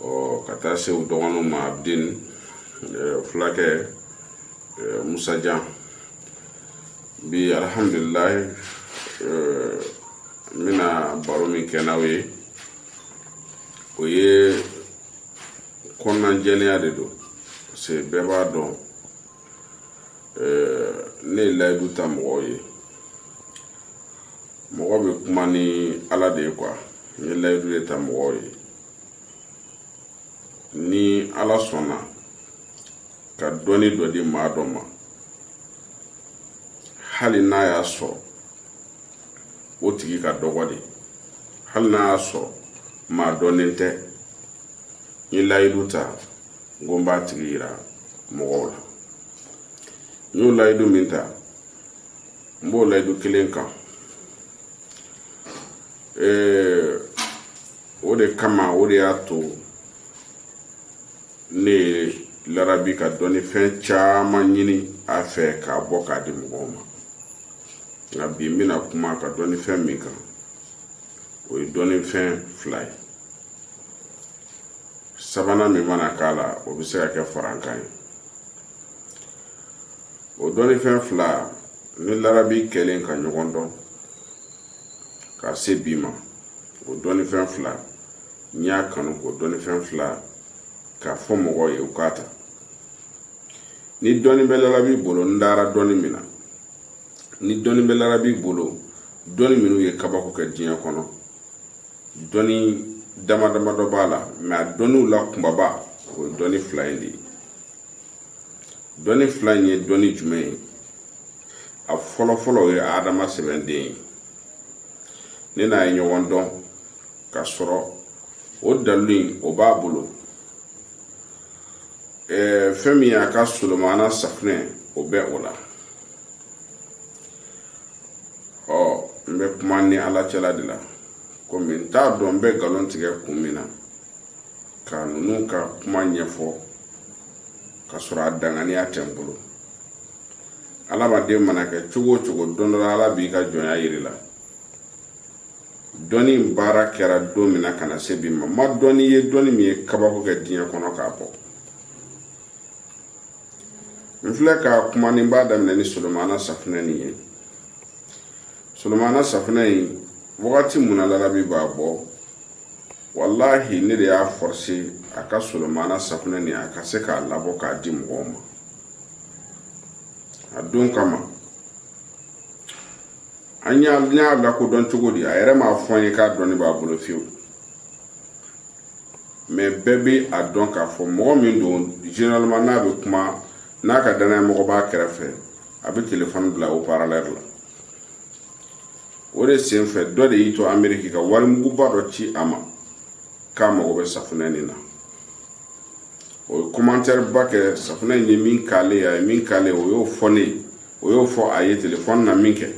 ɔ ka taa se u dɔgɔninw ma abidin fulakɛ musajan bi alihamdulilayi n bɛna baro min kɛ n'aw ye o ye kɔnɔnajɛlenya de don parce que bɛɛ b'a dɔn ne ye layidu ta mɔgɔw ye mɔgɔ bɛ kuma ni ala de ye quoi n ye layidu de ta mɔgɔw ye ni ala sɔnna ka dɔnni dɔ di maa dɔ ma hali n'a y'a sɔrɔ o tigi ka dɔgɔ de hali n'a y'a sɔrɔ maa dɔnnen tɛ n ye layidu ta n ko n b'a tigi yira mɔgɔw la n y'o layidu min ta n b'o layidu kelen kan ee o de kama o de y'a to ne ye larabi ka dɔnni fɛn caman ɲini a fɛ k'a bɔ k'a di mɔgɔw ma nka bi n bɛna kuma ka dɔnni fɛn min kan o ye dɔnni fɛn fila ye sabanan min mana k'a la o bɛ se ka kɛ farankan ye o dɔnnifɛn fila ni larabi kɛlen ka ɲɔgɔn dɔn ka se bi ma o dɔnnifɛn fila n y'a kanu k'o dɔnnifɛn fila k'a fɔ mɔgɔw ye u k'a ta ni dɔnni bɛ larabi bolo n dara dɔnni min na ni dɔnni bɛ larabi bolo dɔnni minnu ye kabako kɛ diɲɛ kɔnɔ dɔnni dama dama dɔ b'a la mais a dɔnniw la kunbaba o ye dɔnni fila in de ye dɔnni fila in ye dɔnni jumɛn ye a fɔlɔ fɔlɔ o ye adama sɛbɛn de ye ne n'a ye ɲɔgɔn dɔn ka sɔrɔ o dalilu in o b'a bolo ɛɛ fɛn min y'a ka solomana safunɛ o bɛ o la ɔ n bɛ kuma ni ala cɛla de la komi n t'a dɔn n bɛ nkalon tigɛ kun min na ka ninnu ka kuma ɲɛfɔ ka sɔrɔ a danganiya tɛ n bolo adamaden mana kɛ cogo o cogo don dɔ la ala b'i ka jɔnya yir'i la dɔnni in baara kɛra don min na ka na se bi ma n ma dɔnni ye dɔnni min ye kabako kɛ diɲɛ kɔnɔ k'a bɔ n filɛ ka kuma ni n b'a daminɛ ni solomana safunɛ nin ye solomana safunɛ in wagati min na larabi b'a bɔ walahi ne de y'a forcé a ka solomana safunɛ nin a ka se k'a labɔ k'a di mɔgɔw ma a don kama an y'a lakodɔn cogo di a yɛrɛ m'a fɔ n ye k'a dɔnni b'a bolo fiyewu mɛ bɛɛ bɛ a dɔn k'a fɔ mɔgɔ min don généralement n'a bɛ kuma n'a ka dannaya mɔgɔ b'a kɛrɛfɛ a bɛ telefɔni bila haut-parleur la o de sen fɛ dɔ de y'i to ameriki ka wari muguba dɔ ci a ma k'a mago bɛ safunɛ nin na o ye kɔmantɛriba kɛ safunɛ in ye min k'ale a ye min k'ale o y'o fɔ ne o y'o fɔ a ye telefɔni na min kɛ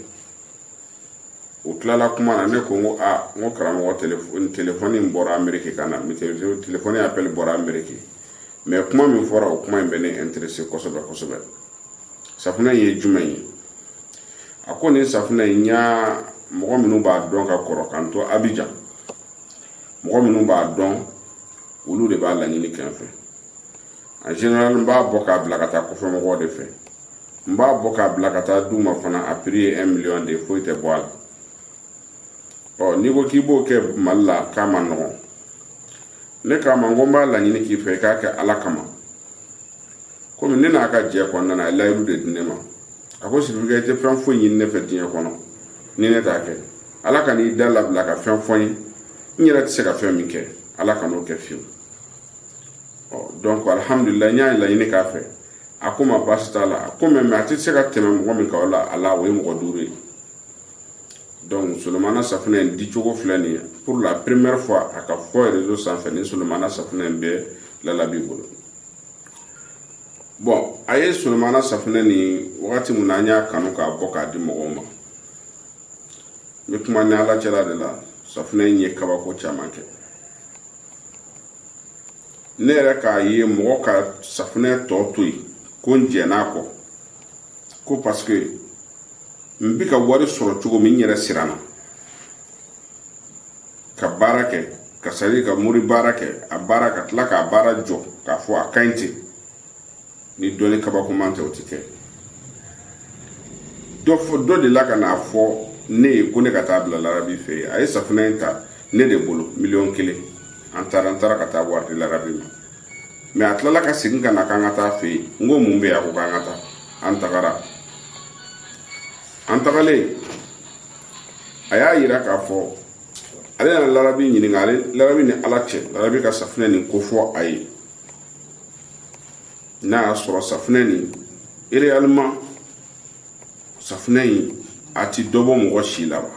o tilala kuma na ne ko n ko aa n ko karamɔgɔ telefɔni in bɔra ameriki ka na telefɔni apɛli bɔra ameriki mɛ kuma min fɔra o kuma in bɛ ne interese kosɛbɛ kosɛbɛ safunɛ ye jumɛn ye a ko nin safunɛ in n y'a mɔgɔ minnu b'a dɔn ka kɔrɔ k'an to abijan mɔgɔ minnu b'a dɔn olu de b'a laɲini kɛ n fɛ en général n b'a bɔ k'a bila ka taa kɔfɛ mɔgɔw de fɛ n b'a bɔ k'a bila ka taa d'u ma fana a piri ye un million de ye foyi tɛ bɔ a la ɔ n'i ko k'i b'o kɛ mali la k'a man nɔgɔn ne k'a ma n ko n b'a laɲini k'i fɛ i k'a kɛ ala kama komi ne n'a ka jɛ kɔnɔna na a ye layidu de di ne ma a ko sibirikɛ i tɛ fɛn foyi ɲini ne fɛ diɲɛ kɔnɔ ni ne t'a kɛ ala kan'i da labila ka fɛn fɔ n ye n yɛrɛ tɛ se ka fɛn min kɛ ala kan'o kɛ fiyewu ɔ dɔnku alihamudulila n y'a laɲini k'a fɛ a ko ma baasi t'a la a ko mɛ a tɛ se ka tɛmɛ mɔgɔ min kan o la a la o ye mɔgɔ duuru ye donc solomana safunɛ in dicogo filɛ nin ye pour la première fois a ka fɔ réseau sanfɛ ni solomana safunɛ in bɛ larabi bolo bon a ye solomana safunɛ nin wagati min na an y'a kanu k'a bɔ k'a di mɔgɔw ma n bɛ kuma ni ala cɛla de la safunɛ in ye kabako caman kɛ ne yɛrɛ k'a ye mɔgɔ ka safunɛ tɔ to yen ko n jɛn'a kɔ ko paseke n bi ka wari sɔrɔ cogo min n yɛrɛ siranna ka baara kɛ ka sari ka mori baara kɛ a baara ka tila k'a baara jɔ k'a fɔ a ka ɲi ten ni dɔnni kabakoman tɛ o tɛ kɛ dɔ fɔ dɔ de la ka n'a fɔ ne ye ko ne ka taa bila larabi fɛ yen a ye safunɛ in ta ne de bolo miliyɔn kelen an taara an taara ka taa wari di larabi ma mɛ a tilala ka segin ka na k'an ka taa fɛ yen n ko mun bɛ yen a ko k'an ka taa an tagara an tagalen a y'a yira k'a fɔ ale nana larabi ɲininka ale larabi ni ala cɛ larabi ka safunɛ nin ko fɔ a ye n'a y'a sɔrɔ safunɛ nin réellement safunɛ in a ti dɔ bɔ mɔgɔ si la wa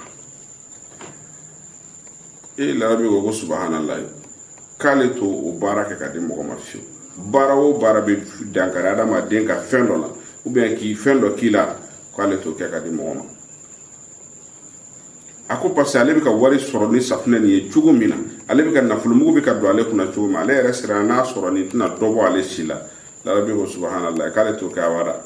e larabi ko ko subahanala k'ale t'o baara kɛ ka di mɔgɔ ma fiyewu baara o baara bɛ dankari adamaden ka fɛn dɔ la ou bien ka fɛn dɔ k'i la k'ale t'o kɛ ka di mɔgɔ ma a ko parce que ale bɛ ka wari sɔrɔ ni safunɛ nin ye cogo min na ale bɛ ka nafolomugu bɛ ka don ale kunna cogo min ale yɛrɛ siranna sɔrɔ nin tɛna dɔ bɔ ale si la larabi ko subahanala k'ale t'o kɛ abada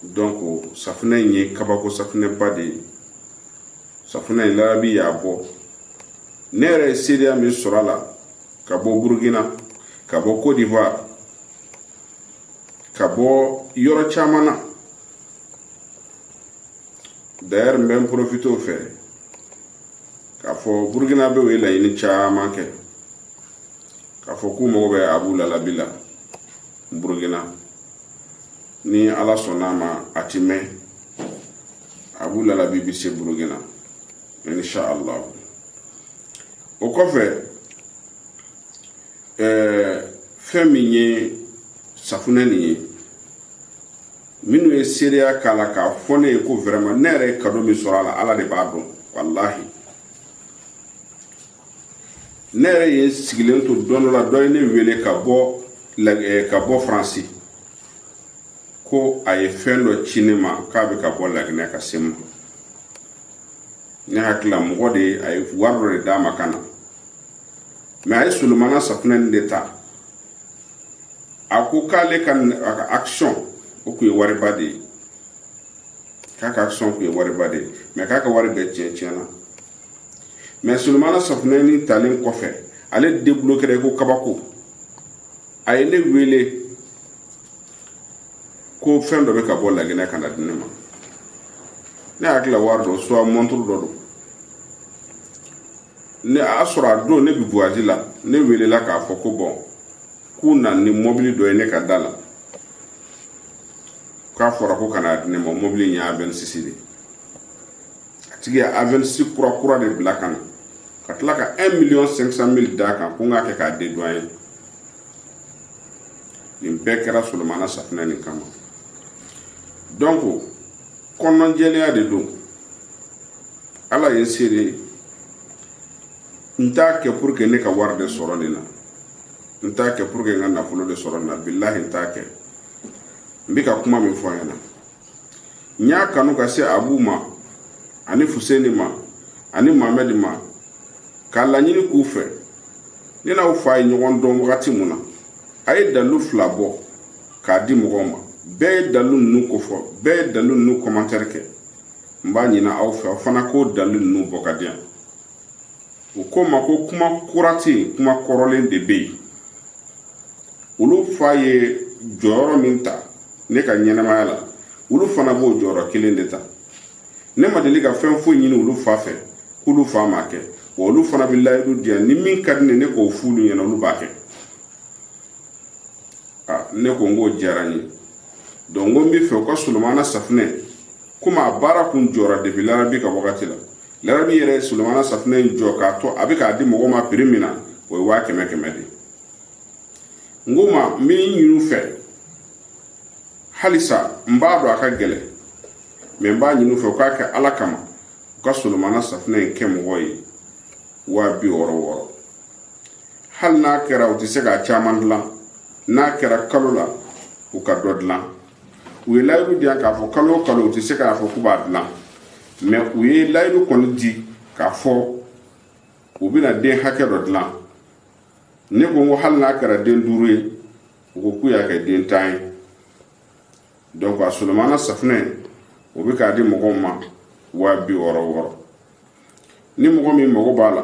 donc safunɛ in ye kabako safunɛba de ye safunɛ in larabi y'a bɔ ne yɛrɛ ye seereya min sɔrɔ a la ka bɔ burukina ka bɔ cote d'ivoire ka bɔ yɔrɔ caman na d'ailleurs n bɛ n profiter o fɛ k'a fɔ burukinabɛw ye laɲini caman kɛ k'a fɔ k'u mago bɛ abu lalabi la burukina ni ala sɔnna a ma a ti mɛn abu lalabi bi se burukina insha allah o kɔfɛ ɛɛ fɛn min ye safunɛ nin ye minnu ye seereya k'a la k'a fɔ ne ye ko vraiment ne yɛrɛ ye kado min sɔrɔ a la ala de b'a dɔn walahi ne yɛrɛ ye sigilen to don dɔ la dɔ ye ne wele ka bɔ eh, ka bɔ faransi ko a ye fɛn dɔ ci ne ma k'a bɛ ka bɔ laginɛ ka se n ma ne hakili la mɔgɔ de ye a ye wari dɔ de d'a ma ka na mais a ye solomana safunɛ nin de ta a ko k'ale ka a ka action o tun ye wariba de ye k'a ka action tun ye wariba de ye mais k'a ka wari bɛɛ tiɲɛ tiɲɛna mais solomana safunɛni talen kɔfɛ ale deblokera i ko kabako a ye ne wele ko fɛn dɔ bɛ ka bɔ laginɛ ka na di ne ma ne hakili la wari dɔ soit mɔnturu dɔ don ne a y'a sɔrɔ a don ne bɛ voyage la ne welela k'a fɔ ko bon k'u na ni mɔbili dɔ ye ne ka da la k'a fɔra ko ka na di ne ma mɔbili in ye avensis de a tigi ye avensis kura kura de bila ka na ka tila ka 1 miliyɔn 500 mili d'a kan ko n k'a kɛ k'a dédouaner nin bɛɛ kɛra solomana safinɛ nin kama donc kɔnɔjɛlenya de don ala ye seere n t'a kɛ pour que ne ka wari de sɔrɔ nin na n t'a kɛ pour que n ka nafolo de sɔrɔ nin na bilahi n t'a kɛ n bɛ ka kuma min fɔ a ɲɛna n y'a kanu ka se abu ma ani fuseni ma ani mamɛdi ma k'a laɲini k'u fɛ ne n'aw fa ye ɲɔgɔn dɔn wagati mun na a ye dalu fila bɔ k'a di mɔgɔw ma bɛɛ ye dalu ninnu kofɔ bɛɛ ye dalu ninnu kɔmantɛri kɛ n b'a ɲini aw fɛ aw fana k'o dalu ninnu bɔ ka di yan u ko n ma ko kuma kura tɛ yen kuma kɔrɔlen de bɛ yen olu fa ye jɔyɔrɔ min ta ne ka ɲɛnamaya la olu fana b'o jɔyɔrɔ kelen de ta ne ma deli ka fɛn foyi ɲini olu fa fɛ k'olu fa m'a kɛ wa olu fana bɛ layidu di yan ni min ka di ne ye n k'o f'olu ɲɛna olu b'a kɛ ne ko n k'o diyara n ye donc n ko n b'a fɛ u ka solomana safunɛ komi a baara kun jɔra depi larabi ka wagati la larabi yɛrɛ ye solomana safunɛ in jɔ k'a to a bɛ k'a di mɔgɔw ma piri min na o ye waa kɛmɛ kɛmɛ de n k'u ma n b'a ɲin'u fɛ halisa n b'a dɔn a ka gɛlɛn mɛ n b'a ɲin'u fɛ u k'a kɛ ala kama u ka solomana safunɛ in kɛ mɔgɔ ye waa bi wɔɔrɔ wɔɔrɔ hali n'a kɛra u tɛ se k'a caman dilan n'a kɛra kalo la u ka dɔ dilan u ye layidu di yan k'a fɔ kalo o kalo u tɛ se k'a fɔ k'u b'a dilan mɛ u ye layidu kɔni di k'a fɔ u bɛna den hakɛ dɔ dilan ne ko n ko hali n'a kɛra den duuru ye u ko k'u y'a kɛ den tan ye donc a solomana safunɛ o bɛ k'a di mɔgɔw ma waa bi wɔɔrɔ wɔɔrɔ ni mɔgɔ min mago b'a la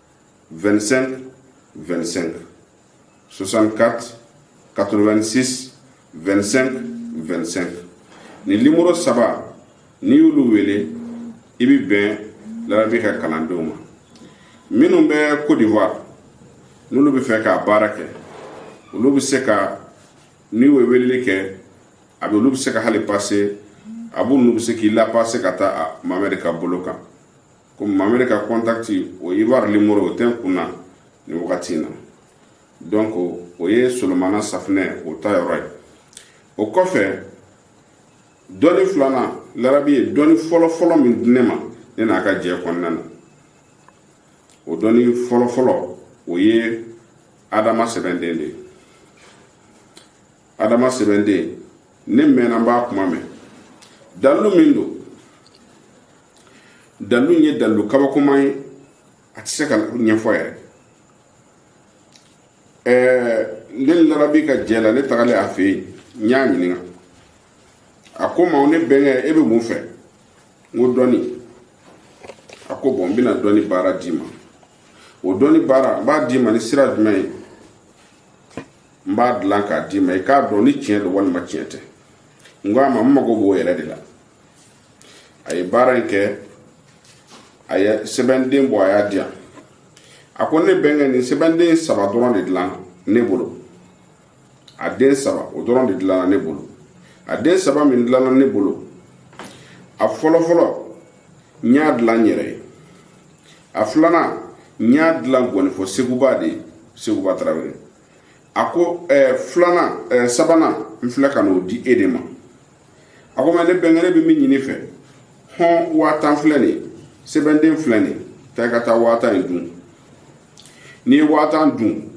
25 25 64 86 25 25 ni limoro saba n'i y'olu wele i bɛ bɛn larabi ka kalandenw ma minnu bɛ Côte d'Ivoire n'olu bɛ fɛ k'a baara kɛ olu bɛ se ka n'i y'o weleli kɛ a bɛ olu bɛ se ka hali pase a b'olu bɛ se k'i lapase ka taa Mamɛdi ka bolo kan komi Mamɛdi ka kɔntaki o Ivoire limoro o tɛ n kun na nin wagati in na donc o ye solomana safunɛ o ta yɔrɔ ye o kɔfɛ dɔnni filanan larabi ye dɔnni fɔlɔfɔlɔ min di ne ma ne n'a ka jɛ kɔnɔna na o dɔnni fɔlɔfɔlɔ o ye adama sɛbɛnden de ye adama sɛbɛnden ne mɛnna n b'a kuma mɛn dalilu min don dalilu in ye dalilu kabakoma ye a tɛ se ka ɲɛfɔ yɛrɛ ɛɛ ne larabi ka jɛ la ne tagalen a fɛ yen n y'a ɲininka a ko n ma ne bɛnkɛ e bɛ mun fɛ n ko dɔnni a ko bon n bɛna dɔnni baara d'i ma o dɔnni baara n b'a d'i ma ni sira jumɛn ye n b'a dilan k'a d'i ma i k'a dɔn ni tiɲɛ don walima tiɲɛ tɛ n ko a ma n mago b'o yɛrɛ de la a ye baara in kɛ a ye sɛbɛnden bɔ a y'a di yan a ko ne bɛnkɛ nin sɛbɛnden saba dɔrɔn de dilan ne bolo a den saba o dɔrɔn de dilanna ne bolo a den saba min dilanna ne bolo a fɔlɔfɔlɔ n y'a dilan n yɛrɛ ye a filanan n y'a dilan gɔnifɔ seguba de ye seguba tarawele a ko ɛɛ eh, filanan ɛɛ eh, sabanan n filɛ ka n'o di e de ma a ko mais ne bɛnkɛ ne bɛ min ɲini i fɛ hɔn waa tan filɛ nin ye sɛbɛnden filɛ nin ye taa i ka taa waa tan in dun n'i ye waa tan dun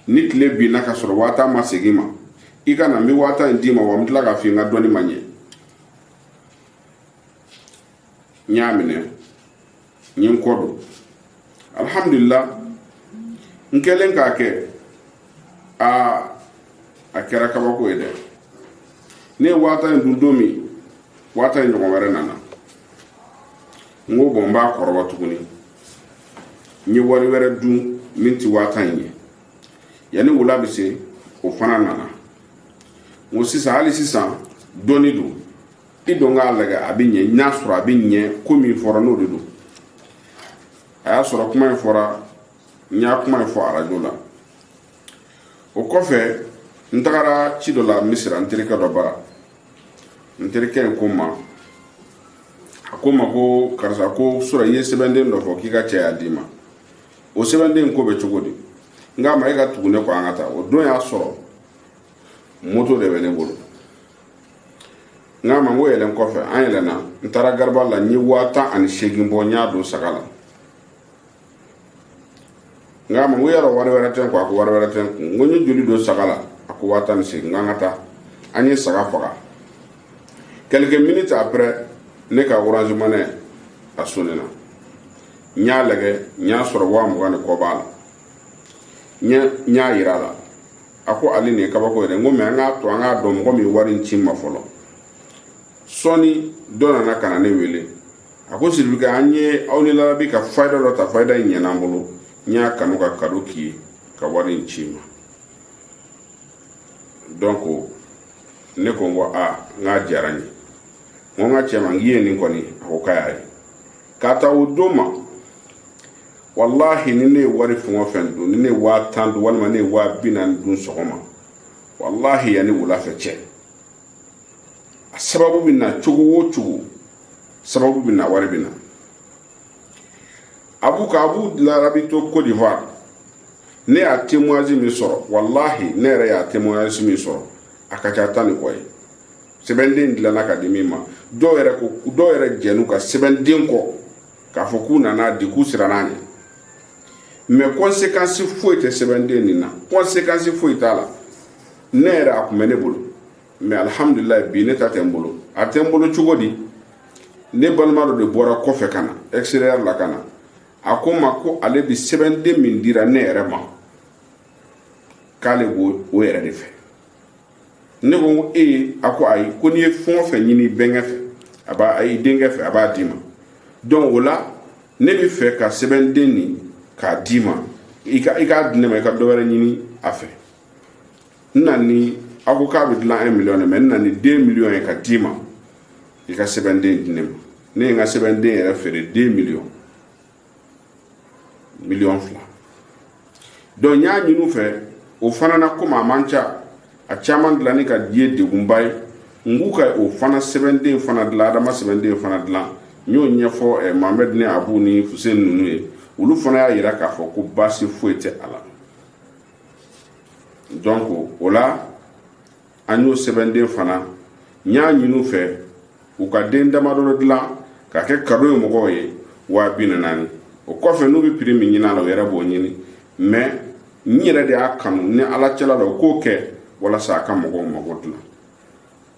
ni tile binna ka sɔrɔ waa tan ma segin i ma i ka na n bɛ waa tan in d'i ma wa n bɛ tila k'a f'i ye n ka dɔnni ma ɲɛ n y'a minɛ n ye n kɔ don alhamdulila n kɛlen k'a kɛ aa a kɛra kabako ye dɛ ne ye waa tan in dun don min waa tan in ɲɔgɔn wɛrɛ nana n ko bon n b'a kɔrɔbɔ tuguni n ye wari wɛrɛ dun min ti waa tan in ye yanni wula bɛ se o fana nana n ko sisan hali sisan dɔnni don i dɔn k'a lagɛ a bɛ ɲɛ n'a sɔrɔ a bɛ ɲɛ ko min fɔra n'o de don a y'a sɔrɔ kuma in fɔra n y'a kuma in fɔ arajo la o kɔfɛ n tagara ci dɔ la misira n terikɛ dɔ bara n terikɛ in ko n ma a ko n ma ko karisa ko surɔ i ye sɛbɛnden dɔ fɔ k'i ka cɛ y'a d'i ma o sɛbɛnden ko bɛ cogo di n k'a ma e ka tugu ne kɔ an ka taa o don y'a sɔrɔ moto de bɛ ne bolo n k'a ma n ko yɛlɛn kɔfɛ an yɛlɛnna n taara gariba la n ye waa tan ani seegin bɔ n y'a don saga la n k'a ma n ko yɔrɔ wari wɛrɛ tɛ n kun a ko wari wɛrɛ tɛ n kun n ko n ye joli don saga la a ko waa tan ni seegin n k'an ka taa an ye saga faga quelques minutes après ne ka orange money a sonina n y'a lagɛ n y'a sɔrɔ waa mugan ni kɔ b'a la n y'a yira a la a ko ale nin ye kabako ye dɛ n ko mais an k'a to an k'a dɔn mɔgɔ min ye wari in ci n ma fɔlɔ sɔɔni dɔ nana ka na ne wele a ko sidibe an ye aw ni larabi ka fayida dɔ ta fayida in ɲɛna an bolo n y'a kanu ka kado k'i ye ka wari in ci i ma donc ne ko n ko a n k'a diyara n ye n ko n ka cɛ ma n k'i ye nin kɔni a ko k'a y'a ye k'a ta o don ma walahi ni ne ye wari fɛn o fɛn dun ni ne ye waa tan dun walima ne ye waa bi naani dun sɔgɔma walahi yanni wulafɛ cɛ a sababu bɛ na cogo o cogo sababu bɛ na wari bɛ na abu ka abu larabi to côte d'ivoire ne y'a témoignage min sɔrɔ walahi ne yɛrɛ y'a témoignage min sɔrɔ a ka ca tan ni kɔ ye sɛbɛnden dilanna ka di min ma dɔw yɛrɛ jɛn'u ka sɛbɛnden kɔ k'a fɔ k'u nan'a di k'u siranna ɲɛ mais conséquence foyi tɛ sɛbɛnden nin na conséquence foyi t'a la ne yɛrɛ a tun bɛ ne bolo mais alihamudulilayi bi ne ta tɛ n bolo a tɛ n bolo cogo di ne balima dɔ de bɔra kɔfɛ ka na extérieur la ka na a ko n ma ko ale bi sɛbɛnden min dira ne yɛrɛ ma k'ale b'o o yɛrɛ de fɛ ne ko ko ee a ko ayi ko n'i ye fɛn o fɛn ɲini bɛnkɛ fɛ a b'a a y'i denkɛ fɛ a b'a d'i ma donc o la ne bɛ fɛ ka sɛbɛnden nin k'a d'i ma i ka i k'a di ne ma i ka dɔ wɛrɛ ɲini a fɛ n na ni a ko k'a bɛ dilan un million de mais n na ni deux millions ye ka d'i ma i ka sɛbɛnden di ne ma ne ye n ka sɛbɛnden yɛrɛ feere deux millions miliyɔn fila donc n y'a ɲini u fɛ o fana na komi a man ca a caman dilanni k'a di ye degunba ye n k'u ka o fana sɛbɛnden fana dilan adama sɛbɛnden fana dilan n y'o ɲɛfɔ eh, mohamɛd ni abu ni fusen ninnu ye olu fana y'a yira k'a fɔ ko baasi foyi tɛ a la donc o la an y'o sɛbɛnden fana n y'a ɲini u fɛ u ka den damadɔ dilan k'a kɛ cadeau ye mɔgɔw ye waa bi naani o kɔfɛ n'u bɛ prix min ɲinin a la u yɛrɛ b'o ɲini mais n yɛrɛ de y'a kanu ni ala cɛla la u k'o kɛ walasa a ka mɔgɔw mago dilan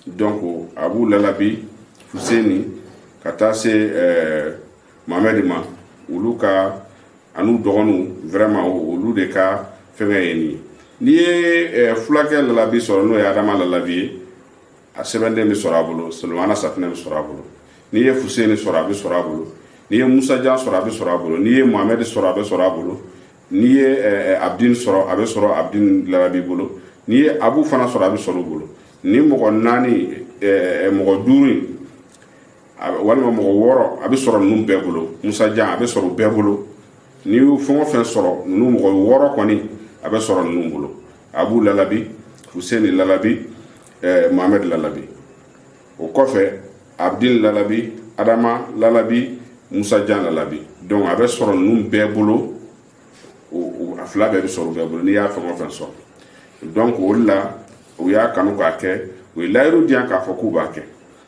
donc abu lalabi fuseni ka taa se ɛɛ eh, mohamɛdi ma olu ka an'u dɔgɔninw vraiment olu de ka fɛngɛ ye nin n'i ye eh, fulakɛ lalabi sɔrɔ n'o ye adama lalabi ye a sɛbɛnden bɛ sɔrɔ a bolo solomana safinɛ bɛ sɔrɔ a bolo n'i ye fuseni sɔrɔ a bɛ sɔrɔ a bolo n'i ye musajan sɔrɔ a bɛ sɔrɔ a bolo n'i ye mohamɛdi sɔrɔ a bɛ sɔrɔ a bolo n'i ye eh, eh, abdin sɔrɔ a bɛ sɔrɔ abdin lalabi bolo n'i ye abu fana sɔrɔ a bɛ sɔrɔ u bolo nin mɔgɔ naani mɔgɔ duuru in walima mɔgɔ wɔɔrɔ a bɛ sɔrɔ ninnu bɛɛ bolo musajan a bɛ sɔrɔ u bɛɛ bolo n'i y'u fɛn o fɛn sɔrɔ ninnu mɔgɔ wɔɔrɔ kɔni a bɛ sɔrɔ ninnu bolo abu lalabi fuseni lalabi ɛɛ mohamɛd lalabi o kɔfɛ abdin lalabi adama lalabi musajan lalabi donc a bɛ sɔrɔ ninnu bɛɛ bolo a fila bɛɛ bɛ sɔrɔ u bɛɛ bolo n'i y'a fɛn o fɛn sɔrɔ donc o de la u y'a kanu k'a kɛ u ye layidu di yan k'a fɔ k'u b'a kɛ